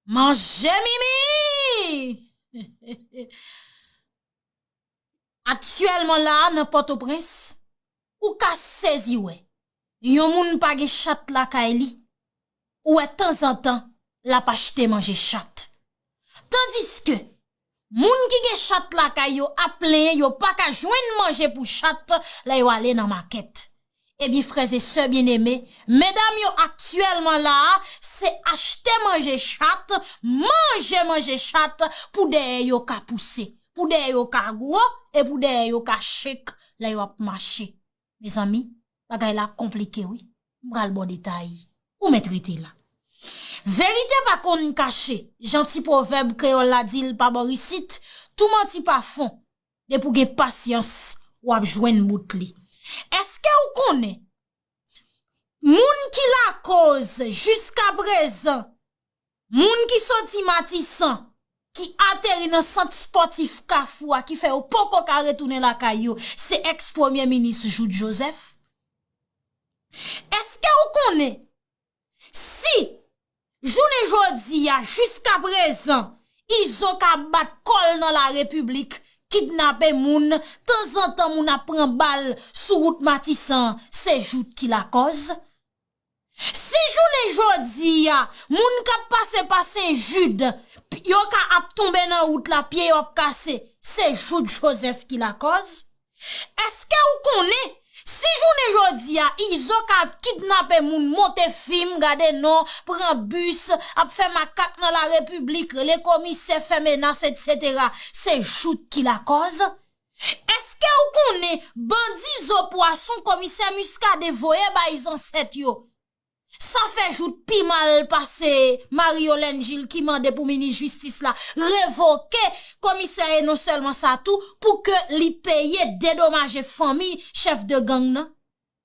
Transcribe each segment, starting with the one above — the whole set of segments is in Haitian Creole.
Manje mimi! Aktyèlman la a nan Pòtoprens, ou ka sezi wè, yon moun pa gen chat lakay li, ou wè tanzantan l ap achte manje chat. Tandiske, Moun ki gen chat lakay yo ap plenyen yo pa ka jwenn manje pou chat lè yo ale nan makèt. Ebyen frè e sè byeneme, medam yo aktyèlman la a se achte manje chat, manje manje chat pou dèyè yo ka pouse, pou dèyè yo ka gwo e pou dèyè yo ka chek lè yo ap mache. Mezanmi, bagay la ap konplike wi. M pral ba w detay. Ou mèt rete la. Verite pa konn kache. Jan ti pwovèb kreyòl la di l pa bò isit, tou manti pa fon. Depi w gen pasyans, w ap jwenn bout li. Èske w konnen moun ki lakoz jiskaprezan Moun ki soti Matisan, ki ateri nan sant spòtif Kafou a ki fè yo poko ka retounen lakay yo, se ex premye minis Jouthe Joseph. Eske ou konnen si jounen jodi a jiska prezan Izo ka bat kòl nan la repiblik kidnape moun, tanzantan moun ap pran bal sou wout Matisan se Jouthe ki lakòz? Si jounen jodi a, moun k ap pase pa Senjid, yo ka ap tonbe nan wout la, pye yo ap kase, se Jout Jozèf ki lakòz? Eske ou konnen, si jounen jodi a, Izo ka ap kidnape moun, monte fim, gade non, pran bis, ap fè makak nan larepiblik, rele komisè, fè menas, etsetera, se Jout ki lakòz? Eske ou konnen bandi zo pwason komisè Muscadin voye bay zansèt yo sa fè jout pi mal pase Marie Yolène Gilles ki mande pou minis jistis la revoke komisè e non sèlman sa tou pou ke li peye dedomaje fanmi chèf de gang nan?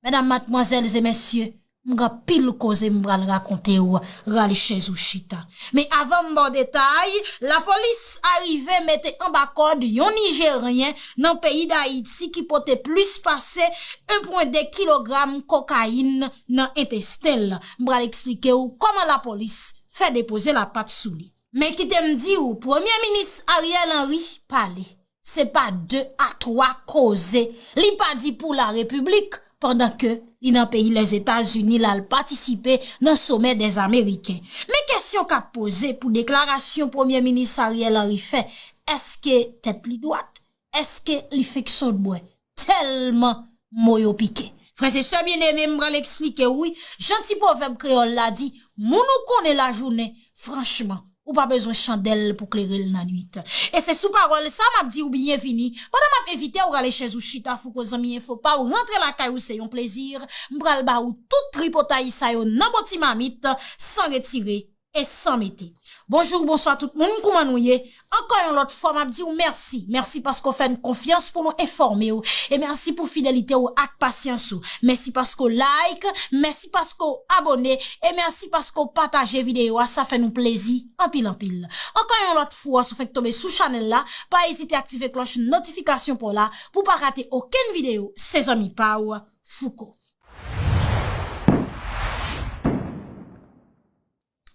Medam, matmwazèl e mesye, m gen anpil koze m pral rakonte w, rale chèz ou chita. Men avan m ba w detay, lapolis arive mete anba kòd yon Nijeryen nan peyi Dayiti ki pote plis pase 1 pwen 2 kilogram kokayin nan entesten l. M pral eksplike w kòman lapolis fè depoze lapat sou li. Men kite m di w, Premye Minis Ariel Henry pale. se pa 2 a 3 koze li pa di pou la repiblik pandan ke li nan peyi Lèzetazini la l patisipe nan somè dè zameriken. Men kesyon k ap poze pou deklarasyon premye minis Ariel Henry fè, èske tèt li dwat? Èske li fenk sòt bwè? tèlman mo yo pike. Frè e sè byeneme, m pral eksplike w wi, jan ti pwovèb kreyòl la di, moun ou konnen lajounen, franchman, ou pa bezwen chandèl pou klere l nannuit. E se sou pawòl sa m ap di w byenvini, pandan m ap envite w rale chèz ou chita Fouco Zanmi Enfo pa w rantre lakay ou se yon plezi, m pral ba ou tout tripotay sa yo nan bon ti mamit, san retire e san mete. Bonjou ou bonswa tout moun kouman nou ye? Ankò yon lòt fwa map diw mèsi, mèsi paske w fèn konfyans pou nou enfòme w e mèsi pou fidelite w ak pasyans ou. Mèsi paske w like, mèsi paske w abone e mèsi paske w pataje videyo a sa fè nou plezi anpil anpil. Ankò yon lòt fwa si w fenk tonbe sou chanèl la pa ezite aktive klòch notifikasyon paw la pou pa rate okenn videyo se zanmi paw Fouco.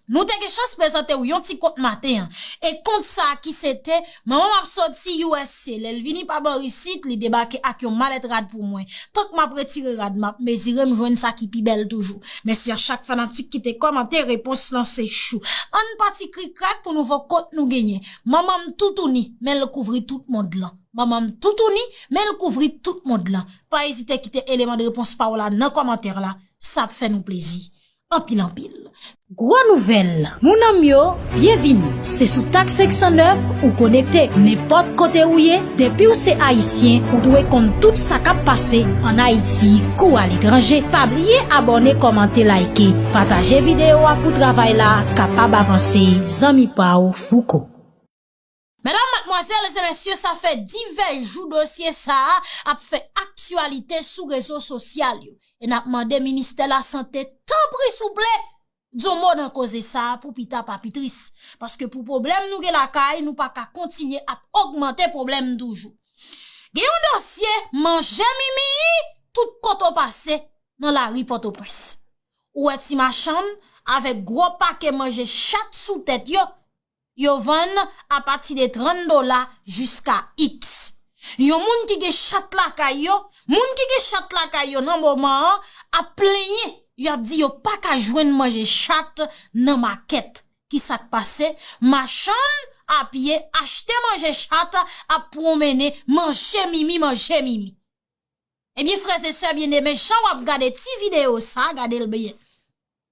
Nou te gen chans prezante ou yon ti kont maten an. E kont sa a ki se te, Manman m ap soti usa, lè l vini pa bò isit, li debake ak yon malèt rad pou mwen. Tank m ap retire rad, m ap mezire, m jwenn sa ki pi bèl toujou. Mèsi a chak fanatik ki te kòmante, repons lan se chou. Ann pa ti krikrak pou nouvo kont nou genyen. Manman m toutouni, men l kouvri tout mond lan. Manman m toutouni, men l kouvri tout mond lan. Pa ezite kite eleman de repons pa w la nan kòmantè la, sa ap fè nou plezi. anpil anpil. Gwo nouvèl, mounanm yo, byenvini! Se sou tak 509 ou konekte. Nenpòt kote ou ye, depi w se Ayisyen, ou dwe konn tout sa k ap pase ann Ayiti kou aletranje. Pa bliye abòne, kòmante, layike, pataje videyo a pou travay la kapab avanse. Zanmi pa w, Fouco. Medam, matmwazèl e mesye sa fè divès jou dosye sa a ap fè aktyalite sou rezo sosyal yo e n ap mande ministè lasante tanpri souple di yon mo nan koze sa a pou pita pa pi tris paske pou pwoblèm nou gen lakay nou pa ka kontinye ap ogmante pwoblèm toujou gen yon dosye manje mimiyi tout kote w pase nan lari pòtoprens ou wè ti machann avèk gwo pake manje chat sou tèt yo. Yo vann a pati de 30 dola jiska x. Yon moun ki gen chat lakay yo, moun ki gen chat lakay yo nan moman an ap plenyen, yo ap di yo pa ka jwenn manje chat nan makèt. Ki sa k pase? Machann a pye achte manje chat ap pwonmennen manje mimi manje mimi. Ebyen frè e sè byen eme jan wap gade ti video sa a gade l byen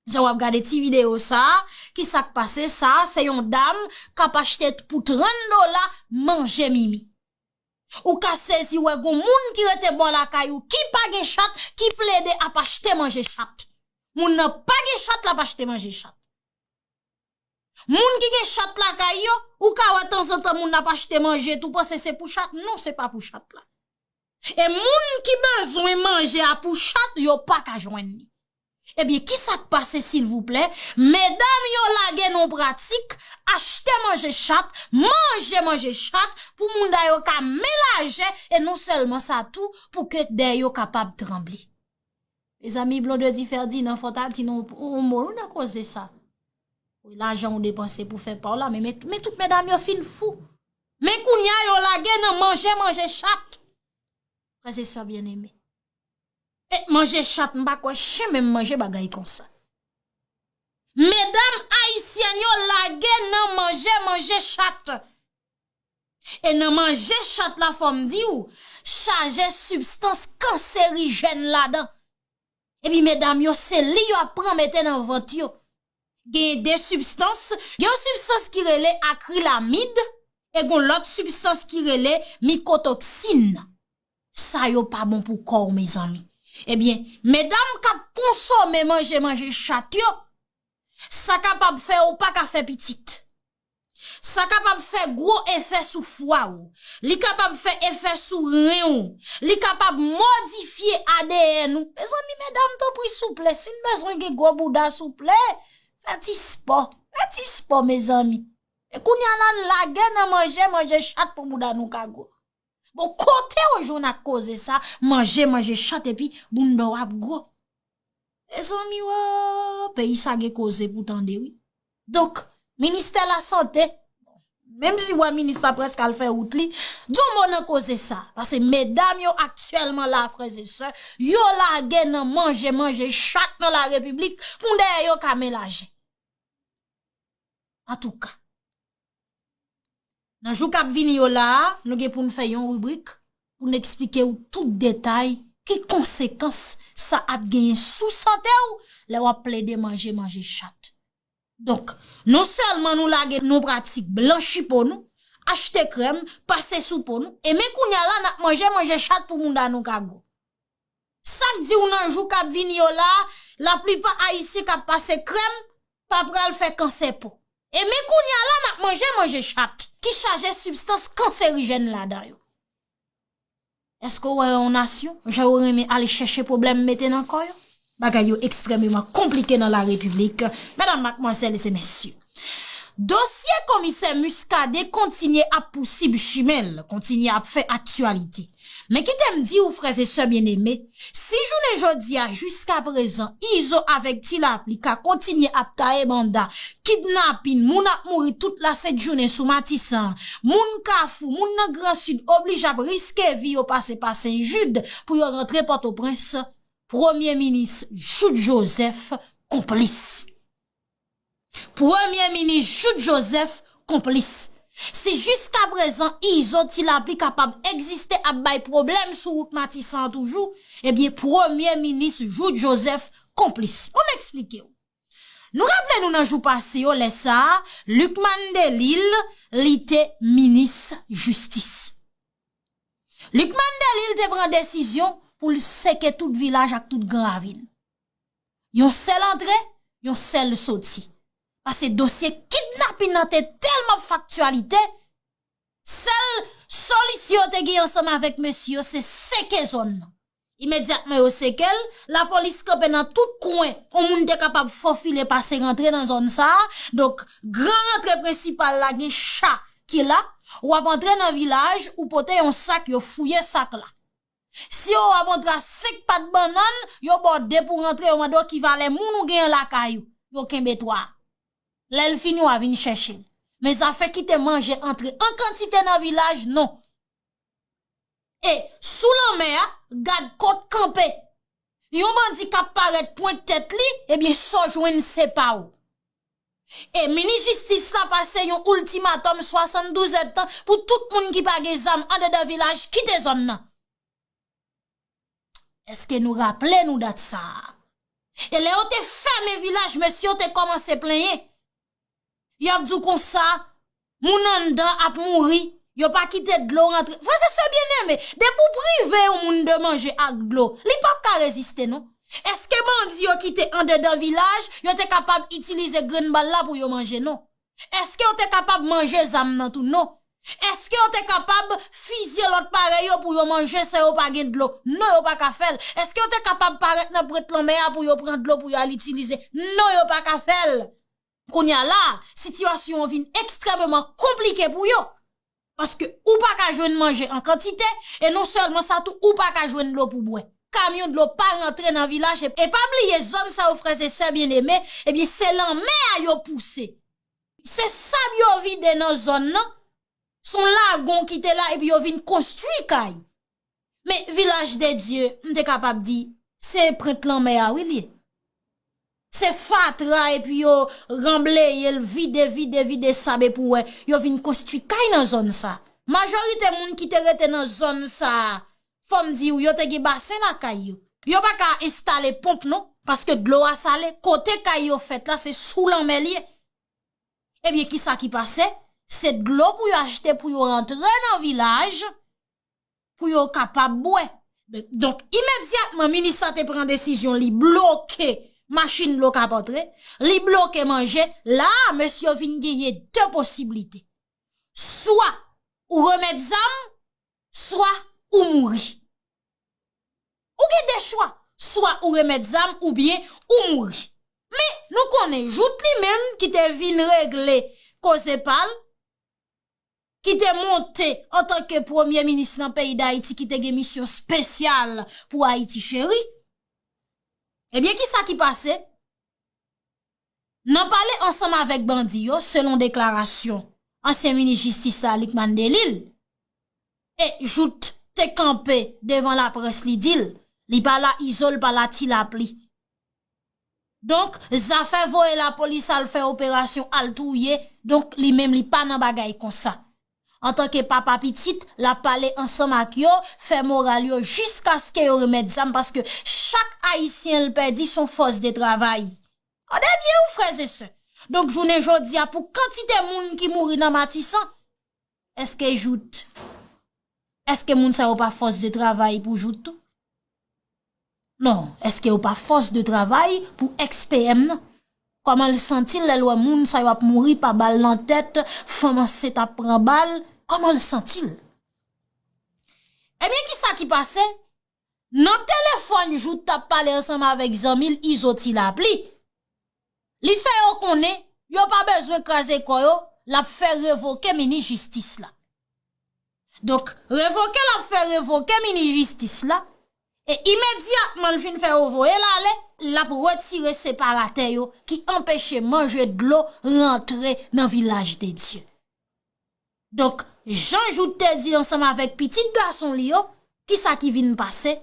Jan wap gade ti video sa a ki sak pase sa a se yon dam kap achte pou 30 dola manje mimi Ou ka sezi wè gon moun ki rete bò lakay ou ki pa gen chat ki plede ap achte manje chat Moun nan pa gen chat lap achte manje chat. Moun ki gen chat lakay yo, ou ka wè tanzantan moun ap achte manje tou panse se pou chat, non se pa pou chat la. E moun ki bezwen manje a pou chat yo pa ka jwenn li. Ebyen ki sa k pase silvouplè, medam yo lage nou pratik achte manje chat, manje manje chat pou mouda yo ka men lajè e non sèlman sa tou pou ke dèyè yo kapab tranble. Mezanmi Blondedy Ferdinand fò ta di nou yon mo wi nan koze sa. Wi lajan ou depanse pou fè pa w la men men tout medam yo fin fou. Men kounya yo lage nan manje manje chat. Frè e sè byen eme. E manje chat m pa kwè chen menm manje bagay konsa. Medam ayisyèn yo lage nan manje manje chat. E nan manje chat la fòm di w chaje sibstans kanserijèn ladan. E pi medam yo se li yo ap pran mete nan vant yo. Genyen 2 sibstans, gen yon sibstans ki rele akrilamid e gon lòt sibstans ki rele mikotoksin. Sa yo pa bon pou kò w mezanmi. E byen medam k ap konsome manje manje chat yo, sa kapab fè ou pa ka fè pitit. Sa kapab fè gwo efè sou fwa ou. Li kapab fè efè sou ren ou. Li kapab modifye adn ou. Mezanmi medam tanpri souple si n bezwen gen gwo bouda souple fè ti spò. Fè ti spò mezanmi. E kounye a la n lage nan manje manje chat pou bouda nou ka gwo. Bon kote ou jwenn ak koze sa manje manje chat epi bounda w ap gwo. Mezanmi oo peyi sa gen koze pou tande wi. Donk, ministè lasante, menm si wè minis la prèske al fè wout li, di yon mo nan koze sa. Pase medam yo aktyèlman la frèzesè, yo lage nan manje manje chat nan la repiblik, pou dèyè yo ka men lajen. Antouka. Nan jou kap vini yo la a, nou gen pou nou fè yon ribrik pou nou eksplike ou tout detay ki konsekans sa ap genyen sou sante ou lè wap plede manje manje chat. Donk, non sèlman nou lage nou pratik blanchi po nou, achte krèm, pase sou po nou, e men kounya la nap manje manje chat pou mouda nou ka gou. Sak diw nan jou kap vini yo la, la plipa ayisyen kap pase krèm, pa pral fè kansè po. E men kounya la nap manje manje chat, ki chaje sibstans kanserijèn ladan yo. Eske w wè yon nasyon, jan yo renmen al chèche pwoblèm mete nan kò yo? Bagay yo ekstrèmeman konplike nan la Repiblik, medam, matmwazèl e zemèsye. Dosye komisè Muscadin kontinye ap pousib chimen l, kontinye ap fè aktyalite. Men kite m di ou frè e sè byeneme, si jounen jodi a jiska prezan Izo avèk Ti Lapli ka kontinye ap taye banda, kidnapin, moun ap mouri tout la sent jounen sou Matisan, moun Kafou, moun nan Gran Sid oblije ap riske vi yo pase pa Sen Jid pou yo rantre Pòtoprens, Premye minis jout joseph konplis. Premye minis jout joseph konplis. Si jiska prezan izo ti lapli kapab egziste ap bay pwoblèm sou wout matisan an toujou ebyen premye minis jout joseph konplis. Bon m eksplike w. Nou raple nou nan jou pase yo lè sa a lucmane delil li te minis jistis. Luc Mandelil te pran desizyon pou l seke tout vilaj ak tout gran ravin. Yon sèl antre, yon sèl soti. Pase dosye kidnapin nan te tèlman faktyalite, sèl solisyon te gen ansanm avèk mesye yo se seke zòn nan. Imedyatman yo seke l, lapolis kanpe nan tout kwen yon moun te kapab fofile pase rantre nan zòn sa a, donk gran rantre prensipal la gen cha ki la, w ap antre nan vilaj ou pote yon sak yo fouye sak la. Si yo wè w ap antre a 5 pat bannann, yo ba w 2 pou rantre yo mande w ki valè moun ou genyen lakay ou, yo kenbe 3. Lè l fini w a vin chèche l. Men zafè kite manje antre an kantite nan vilaj non. E, sou lanmè a, gad kot kanpe. Yon bandi k ap parèt pwent tèt li, ebyen sa w jwenn se pa w. E, minis jistis la pase yon oultimatòm 72 èdtan pou tout moun ki pa gen zam andedan vilaj kite zòn nan. Eske nou raple nou dat sa a? E lè yo te fèmen vilaj, mesye yo te kòmanse plenyen. Yo ap di w konsa, moun anndan ap mouri, yo pa kite dlo rantre. Frèz e sè byeneme, depi w prive yon moun de manje ak dlo, li pap ka reziste non. Eske bandi yo kite andedan vilaj, yo te kapab itilize grenn bal la pou yo manje non. Eske yo te kapab manje zam nan tou? Non. Eske yo te kapab fizye lòt parèy yo pou yo manje san yo pa gen dlo? Non, yo pa ka fè l. Eske yo te kapab parèt nan prent lanmè a pou yo pran dlo pou yo al itilize? Non, yo pa ka fè l. Kounye a la a, sitiyasyon an vin ekstrèmeman konplike pou yo. Paske ou pa ka jwenn manje an kantite, e non sèlman sa tou ou pa ka jwenn dlo pou bwè. Kamyon dlo pa rantre nan vilaj e pa bliye zòn sa yo frè se sè byen eme, ebyen se lanmè a yo pouse. Se sab yo vide nan zòn nan, son lagon ki te la epi yo vin konstwi kay. Men vilaj de Dye m te kapab di se prent lanmè a wi li ye. Se fatra epi yo ranbleye l vide vide vide sab epi w wè yo vin konstwi kay nan zòn sa. Majorite moun ki te rete nan zòn sa fò m di w yo te gen basen lakay yo. Yo pa ka enstale ponp non paske dlo a sale kote kay yo fèt la se sou lanmè li ye. Ebyen kisa ki pase se dlo pou yo achte pou yo rantre nan vilaj pou yo kapab bwè. Donk imedyatman minis la te pran desizyon li bloke machin dlo kap antre, li bloke manje, la a mesye yo vin genyen 2 posiblite. Swa ou remèt zam, swa ou mouri. Ou gen 2 chwa, swa ou remèt zam ou byen ou mouri. Men nou konnen jout li menm ki te vin regle koze pal, ki te monte antanke premye minis nan peyi Dayiti ki te gen misyon spesyal pou Ayiti Cheri. Ebyen ki sa ki pase? Nan pale ansanm avèk bandi yo, selon deklarasyon ansyen minis jistis la Lucmane Delille, e Jouthe te kanpe devan laprès li di l, li pa la izo l pa la ti lapli. Donk zafè voye lapolis al fè operasyon al touye donk li menm li pa nan bagay konsa. Antanke papa pitit l ap pale ansanm ak yo fè moral yo jiskaske yo remèt zam paske chak ayisyen l pèdi s on fòs de travay. Tande byen wi frèzesè. Donk jounen jodi a pou kantite moun ki mouri nan matisan. Eske jout, eske moun sa yo pa fòs de travay pou jout tou? Non, eske yo pa fòs de travay pou ex-PM nan? Kòman l santi l lè l wè moun sa yo ap mouri pa bal nan tèt, fanm ansent ap pran bal, kòman l santi l? Ebyen kisa ki pase? Nan telefòn jouk t ap pale ansanm avèk zanmi l Izo Tilapli, li fè yo konnen yo pa bezwen kraze kò yo l ap fè revoke minis jistis la. Donk revoke l ap fè revoke minis jistis la e imedyatman l fin fè yo voye l ale l ap retire separatè yo ki anpeche manje dlo rantre nan vilaj de Dye. Donk, jan Jout te di ansanm avèk pitit gason li yo, ki sa ki vin pase?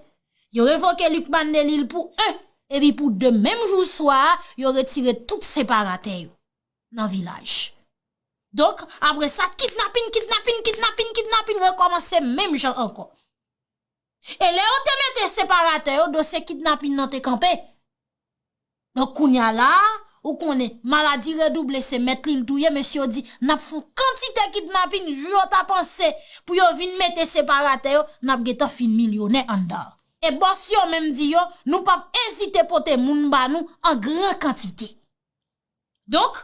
Yo revoke Luc Bandelil pou 1, epi pou 2 menm jou swa a, yo retire tout separatè yo nan vilaj. Donk, apre sa, kidnapin, kidnapin, kidnapin, kidnapin rekòmanse menm jan ankò. E lè yo te mete separatè yo dosye kidnapin nan te kanpe. Donk kounya la a ou konnen maladi redouble se mèt li l touye mesye yo di nap fon kantite kidnapin jou yo ta panse pou yo vin mete separatè yo nap gentan fin milyonè anndan. E bòs yo menm di yo nou pap ezite pote moun ba nou an gran kantite. Donk,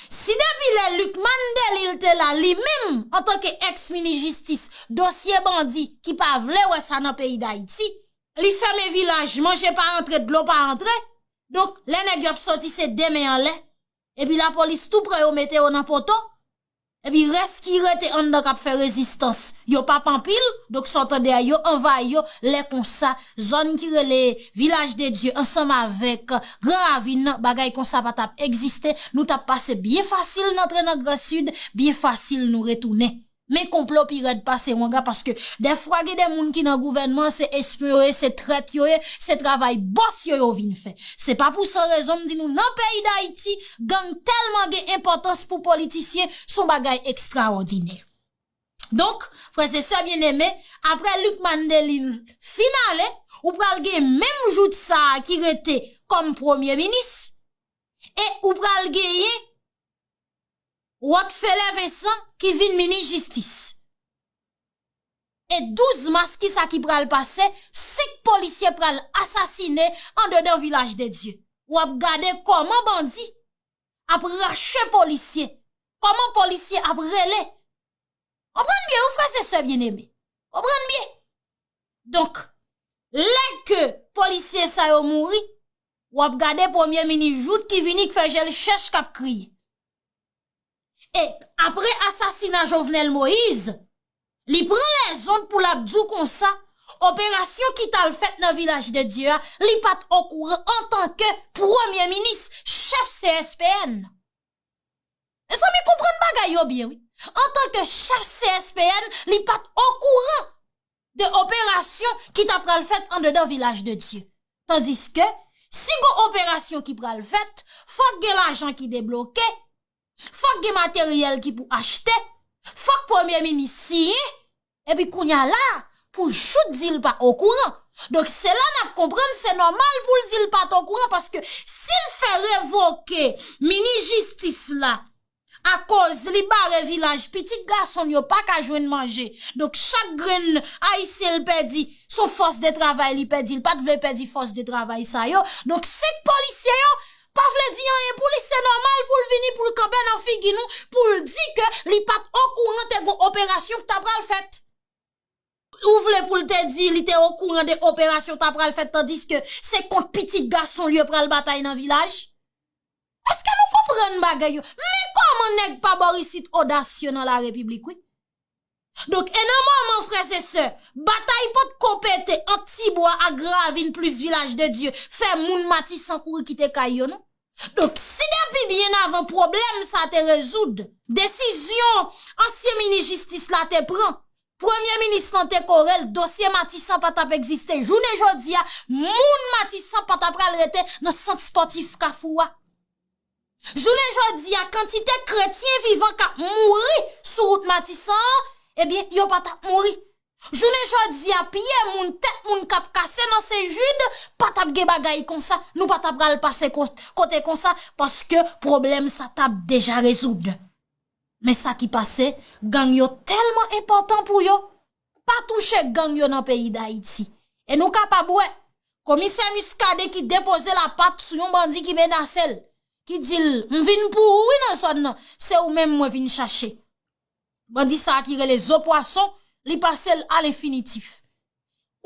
si depi lè Lucmane Delille te la li menm antanke ex minis jistis dosye bandi ki pa vle wè sa nan peyi dayiti, li fèmen vilaj manje pa antre dlo pa antre, donk lè nèg yo ap sòti se 2 men anlè, epi lapolis tou pre yo mete yo nan poto, Epi rès ki rete anndan kap fè rezistans yo pap anpil, donk sa w tande a yo anvayi yo, lè konsa zòn ki rele Vilaj de Dye ansanm avèk Gran Ravin nan bagay konsa pa tap egziste, nou tap pase byen fasil nan antre nan Gran Sid, byen fasil nou retounen. Men konplo pi rèd pase wanga paske dèfwa gen de moun ki nan gouvènman an se espyon yo ye, se trèt yo ye, se travay bòs yo yo vin fè. Se pa pou san rezon m di nou nan peyi Dayiti, gang tèlman gen enpòtans pou politisyen son bagay ekstraòdinè. Donk, frè se sè byen eme, apre Luc Mandelin fin ale, ou pral gen menm jout sa a ki rete kòm premye minis, e ou pral genyen Rockfeller Vincent ki vin minis jistis. E 12 mas kisa ki pral pase, 5 polisye pral asasine andedan vilaj de Dye. Ou ap gade koman bandi ap rache polisye, koman polisye ap rele. Konprann byen wi frè se sè byen eme. Konprann byen. Donk, lè ke polisye sa yo mouri, ou ap gade premye mini jout ki vini k fè jel chèch kap kriye. E apre asasina Jovenel Moïse, li pran lèzond pou l ap di w konsa, operasyon ki t al fèt nan Vilaj de Dye a, li pa t okouran antanke premye minis, chèf CSPN. Mezanmi konprann bagay yo byen wi, antanke chèf CSPN, li pa t okouran de operasyon ki ta pral fèt andedan vilaj de Dye. Tandiske, si gon operasyon ki pral fèt, fòk gen lajan ki debloke, fòk gen materyèl ki pou achte, fòk premye minis siyen, epi kounya la a, pou jout di l pa okouran. Donk, se la n ap konprann se nòmal pou l di l pa t okouran, paske si l fè revoke minis jistis la, Akoz li bare vilaj pitit gason l yo pa ka jwenn manje. Donk chak grenn Ayisyen l pèdi son fòs de travay li pèdi l pa t vle pèdi fòs de travay sa yo. Donk 5 polisye yo pa vle di anyen pou li se nòmal pou l vini pou l kanpe nan figi nou pou l di ke li pa t okouran te gon operasyon k ta pral fèt. Ou vle pou l te di li te okouran de operasyon ta pral fèt tandiske se kont pitit gason l yo pral batay nan vilaj? Eske nou konprann bagay yo? Men kòman nèg pa bò isit odasye nan la repiblik wi. Donk e nan moman frè se sè, batay pot ko pete ant Tibwa ak Gravin plis Vilaj de Dye fè moun Matisan kouri kite kay yo non. Donk si depi byen avan pwoblèm sa te rezoud, desizyon ansyen minis jistis la te pran, premye minis lan te kore l, dosye Matisan pa t ap egziste jounen jodi a, moun Matisan pa ta pral rete nan sant spòtif Kafou a. Jounen jodi a kantite kretyen vivan k ap mouri sou wout Matisan an, ebyen yo pa t ap mouri. Jounen jodi a pye moun tèt moun kap kase nan sen Jude pa tap gen bagay konsa nou pa ta pral pase kote konsa paske pwoblèm sa tap deja rezoud men sa ki pase gang yo tèlman enpòtan pou yo pa touche gang yo nan peyi dayiti e nou kapab wè komisè Muscadin ki depoze la pat sou yon bandi ki menase l ki di l m vin pou ou wi nan zòn nan se ou menm mwen vin chache Bandi sa ki rele zo pwason li pase l a lenfinitif.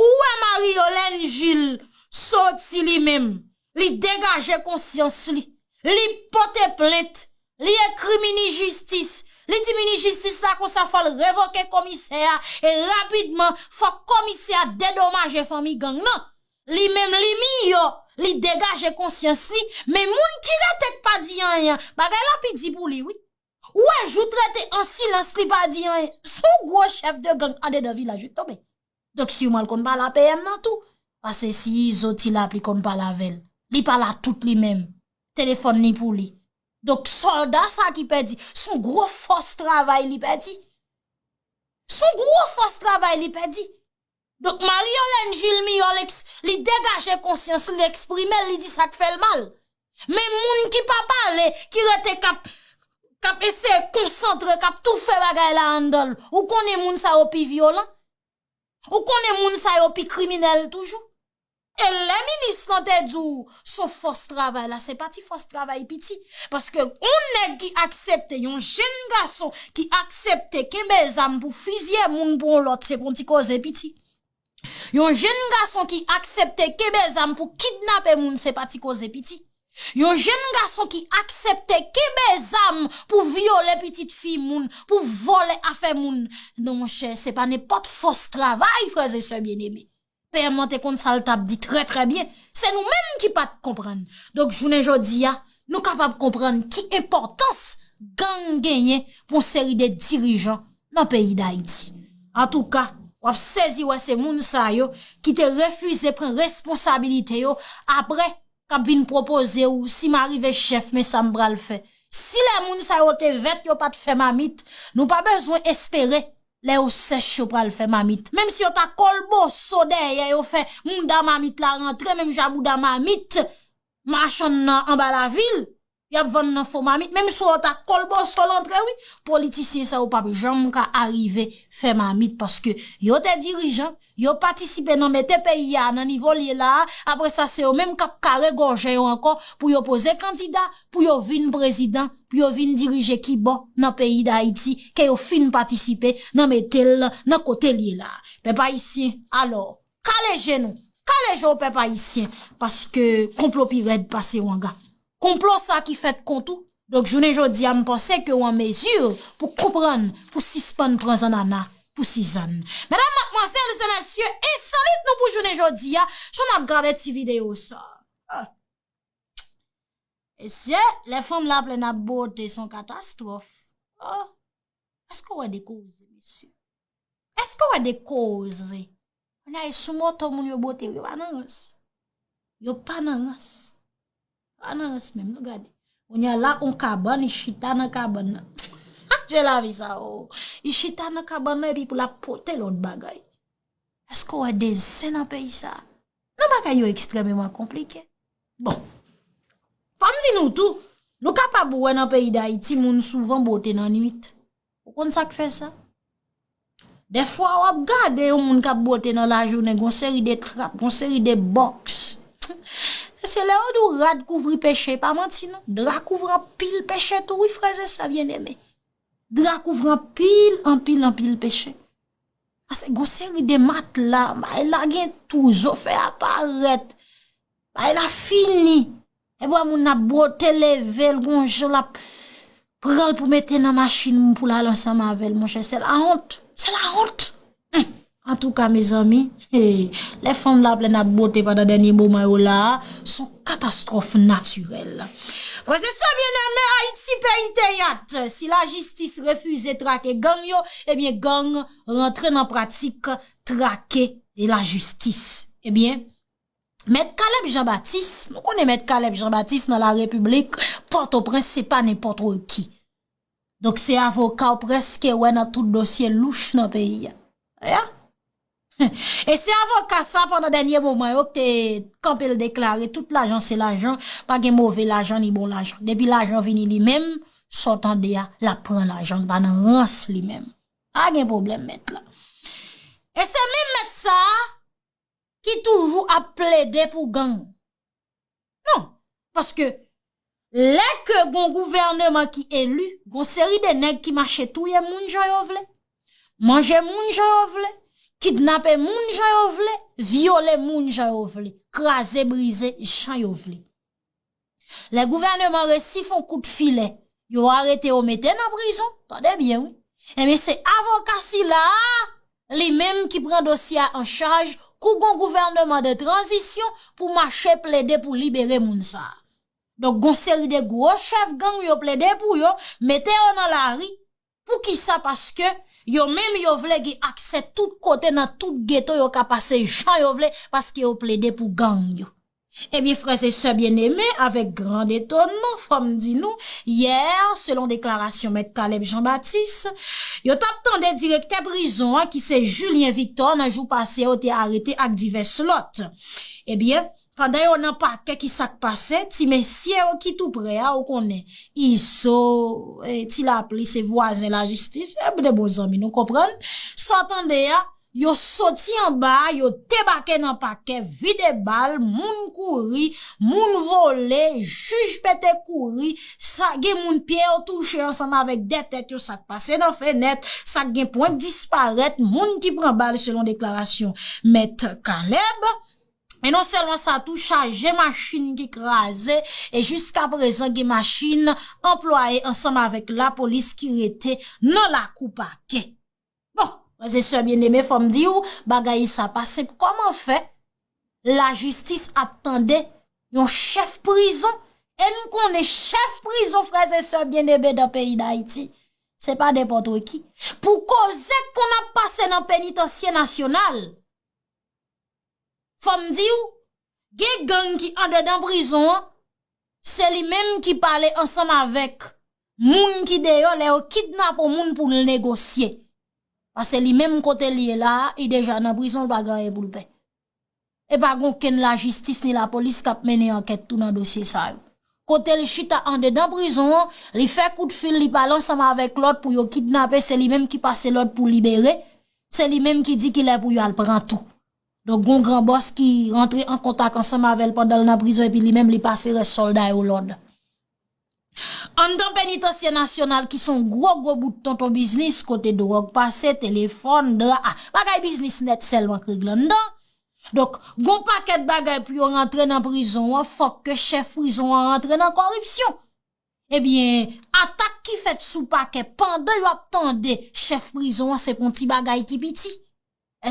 Ou wè Marie Yolène Gilles soti li menm, li degaje konsyans li, li pote plent, li ekri mini jistis, li di mini jistis la konsa fò l revoke komisè a e rapidman fò komisè a dedomaje fanmi gang nan. Li menm li miyò, li degaje konsyans li, men moun ki rete k pa di anyen an, bagay la pi di pou li wi. Ou wè jou t rete an silans li pa di anyen sou gwo chèf de gang andedan vilaj yo t tonbe. Donk siman l konn pale a PM nan tou. Pase si Izo t ila li konn pale avè l. Li pa la tout li menm. Telefòn li pou li. Donk sòlda sa ki pèdi sou gwo fòs travay li pèdi. Sou gwo fòs travay li pèdi. Donk Marie Yolène Gilles Miyòl eks, li degaje konsyans li, li eksprime l, li di sa k fè l mal. Men moun ki pa pale, ki rete k ap, k ap eseye konsantre, k ap toufe bagay la anndan l, ou konnen moun sa yo pi vyolan, ou konnen moun sa yo pi kriminèl toujou. E lè minis lan te di w son fòs travay la, se pa ti fòs travay piti. Paske yon nèg ki aksepte, yon jenn gason ki aksepte kenbe zam pou fizye moun pou yon lòt se pou yon ti koze piti. Yon jenn gason ki aksepte kenbe zam pou kidnape moun se pa ti koze piti. Yon jenn gason ki aksepte kenbe zam pou vyole pitit fi moun, pou vòlè afè moun. Non monchè, se pa nenpòt fòs travay frèzesè byeneme. PM lan te konn sa l t ap di trè trè byen, se nou menm ki pa t konprann. Donk jounen jodi a, nou kapab konprann ki enpòtans gang genyen pou yon seri de dirijan nan peyi Dayiti. Antouka, w ap sezi wè se moun sa yo ki te refize pran responsabilite yo aprè k ap vin pwopoze w si m arive chèf men sa m pral fè. Si lè moun sa yo te vèt yo pa t fè mamit, nou pa bezwen espere Lè yo sèch yo pral fè mamit. Menm si yo ta kolboso dèyè yo fè mouda mamit la rantre menm jan bouda mamit machann nan anba lavil y ap vann nan fo mamit menm si yo ta kolboso l antre wi. Politisyen sa yo p ap janm ka arive fè mamit paske yo te dirijan, Yo patisipe nan mete peyi a nan nivo l ye la a, apre sa se yo menm k ap kare gòje yo ankò pou yo poze kandida pou yo vin prezidan, pou yo vin dirije kibò nan peyi Dayiti ke yo fin patisipe nan mete l nan kote l ye la a. Pèp Ayisyen, alò, kale je nou! Kale je w pèp Ayisyen! Paske konplo pi rèd pase wanga. Konplo sa ki fèt kont ou, donk jounen jodi a m panse ke w an mezi pou konprann pou sispann pran zannana pou sizann. Medam, matmwazèl e mesye, ensolit nou pou jounen jodi a, jan n ap gade ti videyo sa. Mesye, lè fanm la plèn ap bwote s on katastwòf. Eske w wè de koze mesye? Eske w wè de koze? Mwen a e sou moto moun yo bote yo pa nan rans. Yo pa nan rans. Yo pa nan rans menm nou gade. Mwen a la on kaban ni chita nan kaban nan. Ha je la vi sa o. Ni chita nan kaban nan epi pou la pote lout bagay. Eske w wè de zen nan peyi sa? Non bagay yo ekstrememan konplike. Bon, fòm di nou tou, nou kapab wè nan peyi Dayiti moun souvan bote nan nwit. Ou konn sa k fè sa? Dè fwa wap gade yon moun kap bote nan lajounen gon seri de trap, gon seri de bòks. E se lè yo di w rad kouvri peche, e pa manti non. Dra kouvri anpil peche tou wi frèzè sè byeneme. Dra kouvri anpil, anpil, anpil peche. Pase gon seri de matla, bay la gen tou, zo fè a parèt, bay la fini. E bwa moun nan bwote leve l gon jan l ap pran l pou mete nan machin moun pou l al ansanm avè l monchè. Se la wont, se la wont. Antouka mezanmi. Hee lè fanm la plèn ak bote pandan dènye moman yo la a son katastwòf natirèl. Frèzè sè byeneme Ayiti peyi teyat si la jistis refize trake gang yo ebyen gang rantre nan pratik trake e la jistis ebyen mèt kalèb jan batis nou konnen mèt kalèb jan batis nan la repiblik pòtoprens se pa nenpòtre ki. Donk se avoka w preske wè nan tout dosye louch nan peyi a. Aya! E se avoka sa pandan dènye moman yo k te kanpe l deklare tout lajan se lajan, pa gen move lajan ni bon lajan. Depi lajan vini li menm, sa w tande a, l ap pran lajan, l pa nan rans li menm. Pa gen pwoblèm mèt la. E se menm mèt sa ki toujou ap plede pou gang. Non, paske lè ke gon gouvèneman ki elu, gon seri de nèg ki mache touye moun jan yo vle, manje moun jan yo vle, kidnape moun jan yo vle, vyole moun jan yo vle, kraze brize jan yo vle. Lè gouvèneman resi fon kout filè, yo arete yo mete nan prizon, tande byen wi, enben se avoka sila a li menm ki pran dosye a an chaj kou gon gouvèneman de tranzisyon pou mache plede pou libere moun sa. Donk gon seri de gwo chèf gang yo plede pou yo mete yo nan lari, pou kisa paske yo menm yo vle gen aksè tout kote nan tout geto yo ka pase jan yo vle paske yo plede pou gang yo. Ebyen frè se sè Bien-Aimé, avèk grand etonman fò m di nou, yè, selon deklarasyon mèt Caleb Jean Baptiste, yo t ap tande direktè prizon an ki se Julien Victor nan jou pase yo te arete ak divès lòt. Ebyen, pandan yo nan pakè ki sa k pase, ti mesye yo ki tou prè a ou konnen, Izo, Ti Lapli se vwazen lajistis, e m de bon zanmi nou konprann sa w tande a, Yo soti anba, yo debake nan pakè, vide bal, moun kouri, moun vole, jij pete kouri, sa gen moun pye yo touche ansanm avèk 2 tèt yo, sa k pase nan fenèt, sa k gen pwent disparèt, moun ki pran bal selon deklarasyon Mèt Caleb. E non sèlman sa tou, chaje machin ki kraze e jiska prezan gen machin anplwaye ansanm avèk lapolis ki rete nan lakou pakè. Bon, frèz e sè byeneme fòm di ou, bagay sa pa senp kòman fè la jistis ap tande yon chèf prizon e nou konnen chèf prizon frèz e sè byeneme dan peyi d'Ayiti. Se pa nenpòtre ki. Pou koze kon ap pase nan penitansye nasyonal, fòm di ou, Gen gang ki andedan prizon an, se li menm ki pale ansanm avèk moun ki deyò lè yo kidnape yon moun pou l negosye. Pase li menm kote li ye la a, li deja nan prizon, li pa gen anyen pou l pè. E pa gen okenn lajistis ni lapolis k ap mennen ankèt tou nan dosye sa yo. Kote l chita andedan prizon an, li fè kout fil, li pale ansanm avèk lòt pou yo kidnape, se li menm ki pase lòd pou libere, se li menm ki di ki lè pou yo al pran tou. Donk gon gran bòs ki rantre an kontak ansanm avè l pandan l nan prizon epi li menm li pase rès sòlda yo lòd. Anndan Penitansye Nasyonal ki son gwo gwo bout tonton biznis kote dwòg pase, telefòn, dra a, bagay biznis nèt sèlman k regle anndan. Donk gon pakèt bagay pou yo rantre nan prizon an fòk ke chèf prizon an rantre nan kòripsyon. Ebyen atak ki fèt sou pakè pandan yo ap tande chèf prizon an se p on ti bagay ki piti.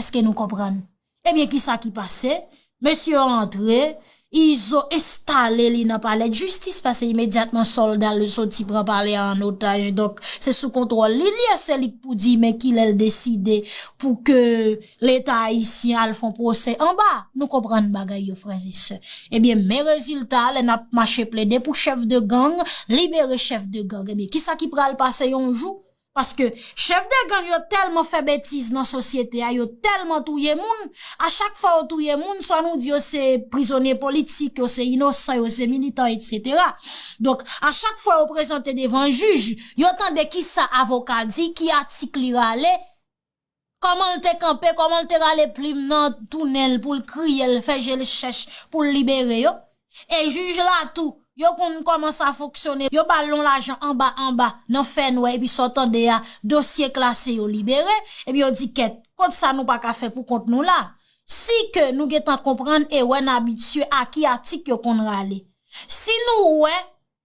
Eske nou konprann? Ebyen ki sa ki pase? Mesye yo antre, Izo enstale li nan palè djistis pase imedyatman sòlda l yo soti pran palè a an otaj donk se sou kontwòl li l ye se li k pou di men ki lè l deside pou ke leta ayisyen al fon pwosè anba nou konprann bagay yo frè e sè ebyen men rezilta lè n ap mache plede pou chèf de gang libere chèf de gang ebyen ki sa ki pral pase yon jou Paske chèf de gang yo tèlman fè betiz nan sosyete a, yo tèlman touye moun, a chak fwa yo touye moun, swa nou di yo se prizonye politik, yo se inosan, yo se militan, etsetera. Donk, a chak fwa yo prezante devan jij, yo tande ki sa avoka di, ki atik li rale, Kòman l te kanpe, kòman l te rale plim nan tou nen l pou l kriye l, fè je l chèch pou l libere yo. E jij la tou, yo konn kòman sa fonksyone, yo ba l yon lajan anba anba nan fè nwè epi sa w tande a, dosye klase yo libere, epi yo di kèt, kont sa nou pa ka fè pou kont nou la. Si ke nou gen tan konprann e wè n abitye a ki atik yo konn rale. Si nou wè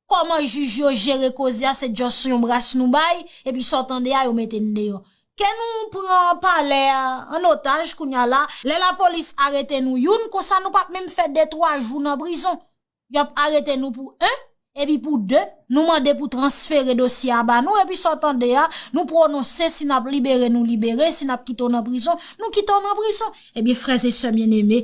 Koman jij yo jere koze a se just yon bras nou bay epi sa w tande a yo mete n deyò. Ke nou pran palè a an otaj kounya la, lè lapolis arete nou youn konsa nou pap menm fè de twa jou nan prizon. Yo ap arete nou pou 1 epi pou 2 nou mande pou transfere dosye a ba nou epi sa w tande a nou pwononse si n ap libere nou libere si n ap kite w nan prizon nou kite w nan prizon. Ebyen frè e sè byeneme.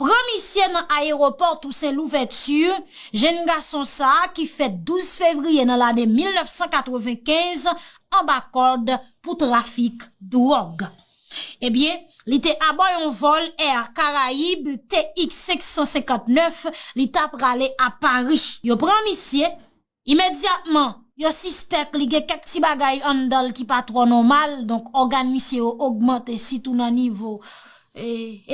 Pran misye nan ayewopò Tousen Louvèti, jenn gason sa ki fèt 12 fevriye nan lane 1995 anba kòd pou trafik dwòg. Ebyen, li te abò yon vòl Air Caraïbes TX 559, li ta prale a Pari. Yo pran misye, Imedyatman, yo sispèk li gen kèk ti bagay anndan l ki pa twò nòmal, donk ògàn misye yo ogmante sitou nan nivo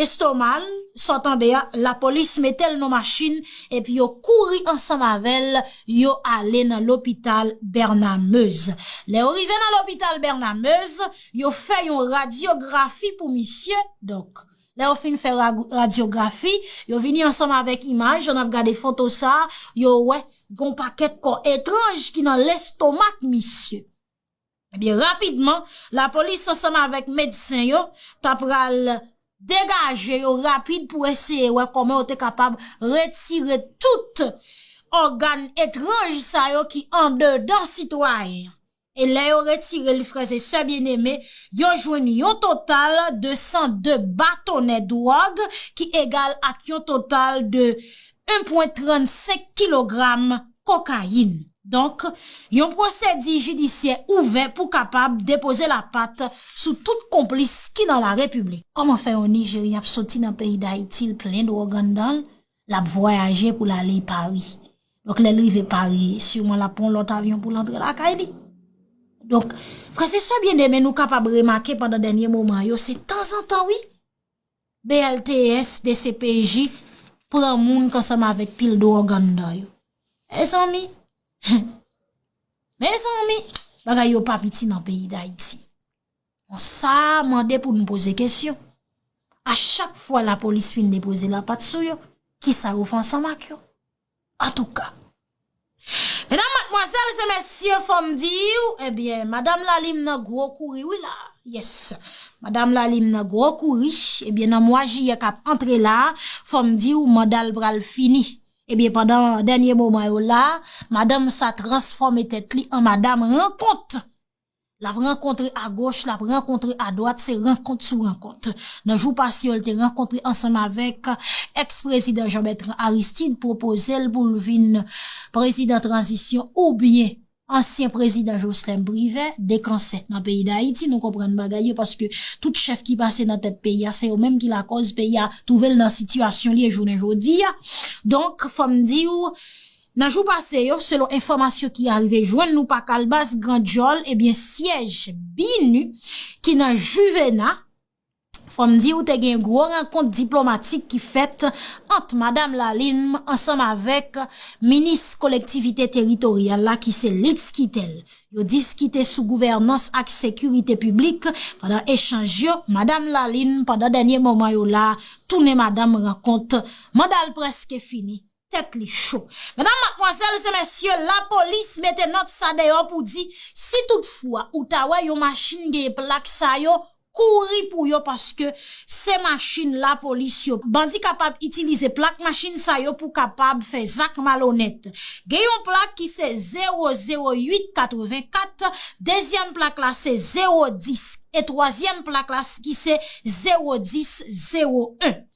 estoma l. Sa w tande a, lapolis mete l nan machin epi yo kouri ansanm avè l, yo ale nan lopital Bernard Meuze. Lè yo rive nan lopital Bernard Meuze, yo fè yon radyografi pou misye, donk. Lè yo fin fè radyografi, yo vini ansanm avèk imaj, jan n ap gade foto sa a, yo wè gen yon pakèt kò etranj ki nan lestomak misye. Ebyen, rapidman, lapolis ansanm avèk medsen yo t ap pral degaje yo rapid pou eseye wè kòman yo te kapab retire tout ògàn etranj sa yo ki andedan sitwayen an. E lè yo retire l frèzesè byeneme, yo jwenn yon total de 102 batonè dwòg ki egal ak yon total de 1 pwen 35 kilogram kokayin. Donk, yon pwosedi jidisyè ouvè pou kapab depoze lapat sou tout konplis ki nan la Repiblik. Kòman fè yon Nijeryen ap soti nan peyi Dayiti l plen dwòg anndan l? L ap vwayaje pou l ale Pari. Donk lè l rive Pari, siman l ap pran yon lòt avyon pou l antre lakay li. Donk, frè se sè byeneme nou kapab remake pandan dènye moman yo, se tanzantan wi, BLTS, dcpj, pran moun kansanm avèk pil dwòg anndan yo. Mezanmi! Mezanmi! Bagay yo pa piti nan peyi Dayiti. Bon sa mande pou nou poze kesyon. A chak fwa la polis fin depoze la pat sou yo, ki sa yo fè ansanm ak yo? An tou ka. Medam, matmwazèl, se mesye fò m di w, e byen, madam Lalim nan gwo kouri wi la. Yes. Madam Lalim nan gwo kouri, e byen nan mwa jiyè k ap antre la, fò m di w manda l pral fini. E byen pandan dènye moman yo la, madanm sa transfòme tèt li an madam rankont. Lap rankontre agoch, lap rankontre adwat, se rankont sou rankont. Nan jou pase yo l te rankontre ansanm avèk ex prezidan Jean Bertrand Aristide pwopoze l pou l vin prezidan tranzisyon oubyen ansyen prezidan Joslèm Privè, 2 kansè nan peyi Dayiti, nou konprann bagay yo paske tout chèf ki pase nan tèt peyi a se yo menm ki lakòz peyi a twouve l nan sitiyasyon l ye jounen jodi a. Donk fò m di w Nan jou pase yo, selon enfòmasyon ki arive jwenn nou pa kalbas gran djòl, ebyen syèj BINUH ki nan Juvena, fò m di ou te gen gwo rankont diplomatik ki fèt ant Madam Lalime ansanm avèk minis kolektivite teritoryal la ki se Litz Quitel. Yo diskite sou gouvènans ak sekirite piblik pandan echanj yo, Madam Lalime pandan dènye moman yo la tounen madanm rankont manda l prèske fini. Tèt li cho. Medam, matmwazèl, se mesye, lapolis mete nòt sa deyò pou di, si tout fwa ou ta wè yon machin genyen plak sa yo, kouri pou yo paske se machin lapolis yo. Bandi kapab itilize plak machin sa yo pou kapab fè zak malonèt. Gen yon plak ki se 0, 0, 8, 84, dezyèm plak la se 0, 10, e twazyèm plak la ki se 0, 10, 0, 1.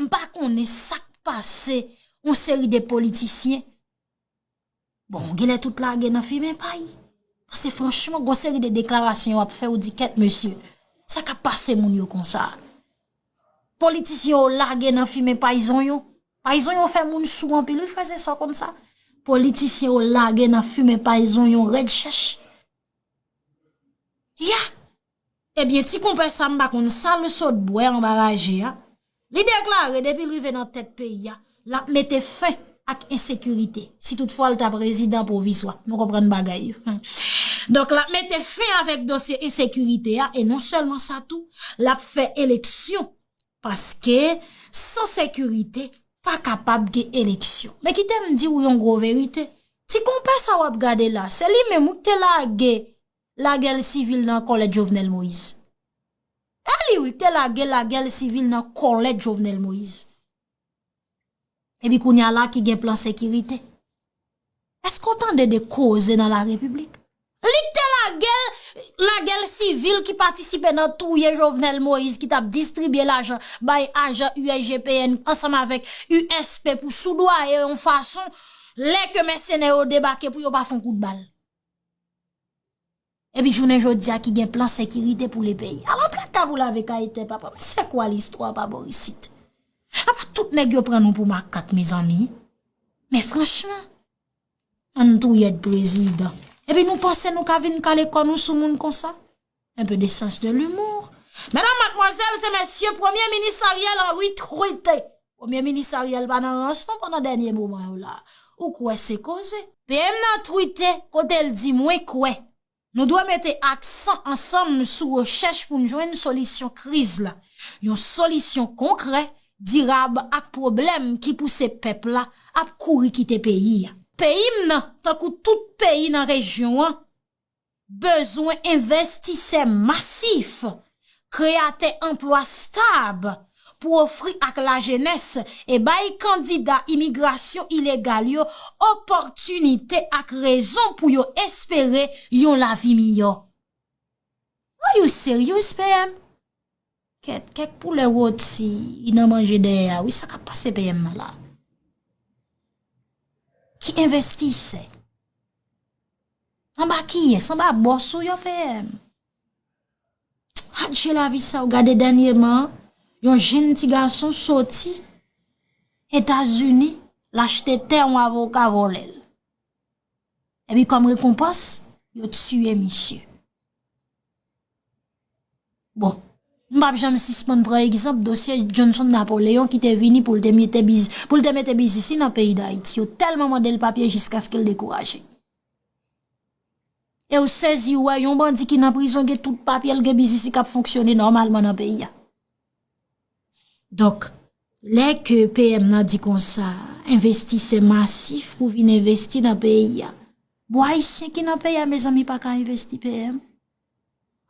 M pa konnen sa k pase yon seri de politisyen. Bon, genlè tout lage nan fimen pay. Pase franchman, gon seri de deklarasyon wap fè ou di kèt mesye. Sa k ap pase moun yo konsa. Politisyen yo lage nan fimen pay zonyon. Pay zonyon fè moun sou anpil wi frè se sa w konn sa. Politisyen yo lage nan fimen pay zonyon rèd chèch. Ya! Ebyen ti konpè sa m pa konn sa l sot bwè anba raje a, li deklare depi l rive nan tèt peyi a, l ap mete fen ak ensekirite, si tout fwa l ta prezidan pwovizwa, nou konprann bagay yo. Donk l ap mete fen avèk dosye ensekirite a e non sèlman sa tou, l ap fè eleksyon paske san sekirite pa kapab gen eleksyon. Men kite m di w yon gwo verite, ti konpè sa w ap gade la, se li menm wi k te lage Lagel sivil nan kòlèt Jovenel Moïse. E li wi te lage lagel sivil nan kòlèt Jovenel Moïse. E pi kounya la ki gen plan sekirite. Eske w tande de koze nan la repiblik? Li te lagel lagel sivil ki patisipe nan touye Jovenel Moïse ki tap distribye lajan bay ajan USGPN ansanm avèk USP pou soudwaye yon fason lè ke mèsenè yo debake pou yo pa fon kout bal. Epi jounen jodi a ki gen plan sekirite pou le peyi. Ala traka pou lave kay te papa. Men se kwa listwa pa bo isit. Apa tout neg yo pran nou pou makak mezanmi. Men franchman. An touyèd prezidan. Epi nou panse nou ka vin kale kò nou sou moun konsa. Un peu de sens de l'humour. Medam, madmwazèl, se mesye, premye minis Ariel Henry trete. Premye minis Ariel pa nan rans non pandan dènye moman yo la. Ou kwè se koze. PM nan trete kote l di mwen kwè nou dwe mete aksan ansanm sou rechèch pou n jwenn solisyon kriz la. Yon solisyon konkrè, dirab ak pwoblèm ki pouse pèp la ap kouri kite peyi a. Peyi m nan, tankou tout peyi nan rejyon an, Bezwen envestisè masif, kreyatè anplwa stab pou ofri ak lajenès e bay kandida imigrasyon ilegal yo opòtinite ak rezon pou yo espere yon lavi miyò. Are you serious PM? Kèt, kèk poulè roti nan manje dèyè a wi, sa kap pase PM nan la? Ki envestisè? Anba kiyès? Anba bòs ou yo PM? Adje lavi sa ou gade dènyeman, yon jenn ti gason soti Etazini, l achte tè yon avoka vòlè l. Epi kòm rekonpans, yo tiye misye. Bon, m pap janm sispann pran egzanp dosye Johnson Napoléon ki te vini pou l te mete biznis li nan peyi Dayiti. Yo tèlman mande l papye jiskaske l dekouraje. E w sezi ou wè yon bandi ki nan prizon gen tout papye l gen biznis li k ap fonksyone nòmalman nan peyi a. Donk, lè ke PM nan di konsa, envestisè masif pou vin envesti nan peyi a. Bon, ayisyen ki nan peyi a mezanmi pa ka envesti PM?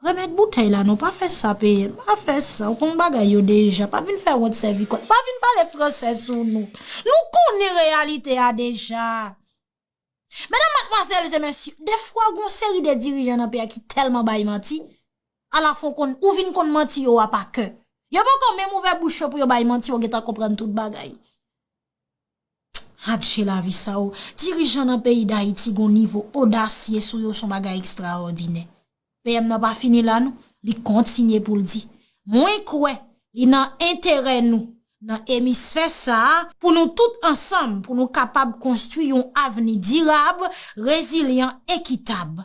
Remèt boutèy la non pa fè sa PM pa fè sa ou konn bagay yo deja pa vin fè wont sèvi kòl pa vin pale fransè sou nou nou konnen reyalite a deja Medam matmwazèl e mesye defwa gon seri de dirijan nan peyi a ki tèlman bay manti ala fon konn ou vin konn manti yo a pa kè yo poko menm ouvè bouch yo pou yo bay manti yo gentan konprann tout bagay. Adje lavi sa o! Dirijan nan peyi Dayiti gon nivo odasye sou yo son bagay ekstraòdinè. PM nan pa fini la non, li kontinye pou l di, Mwen kwè li nan enterè nou nan emisfè sa a pou nou tout ansanm pou nou kapab konstwi yon avni dirab, rezilyan, ekitab.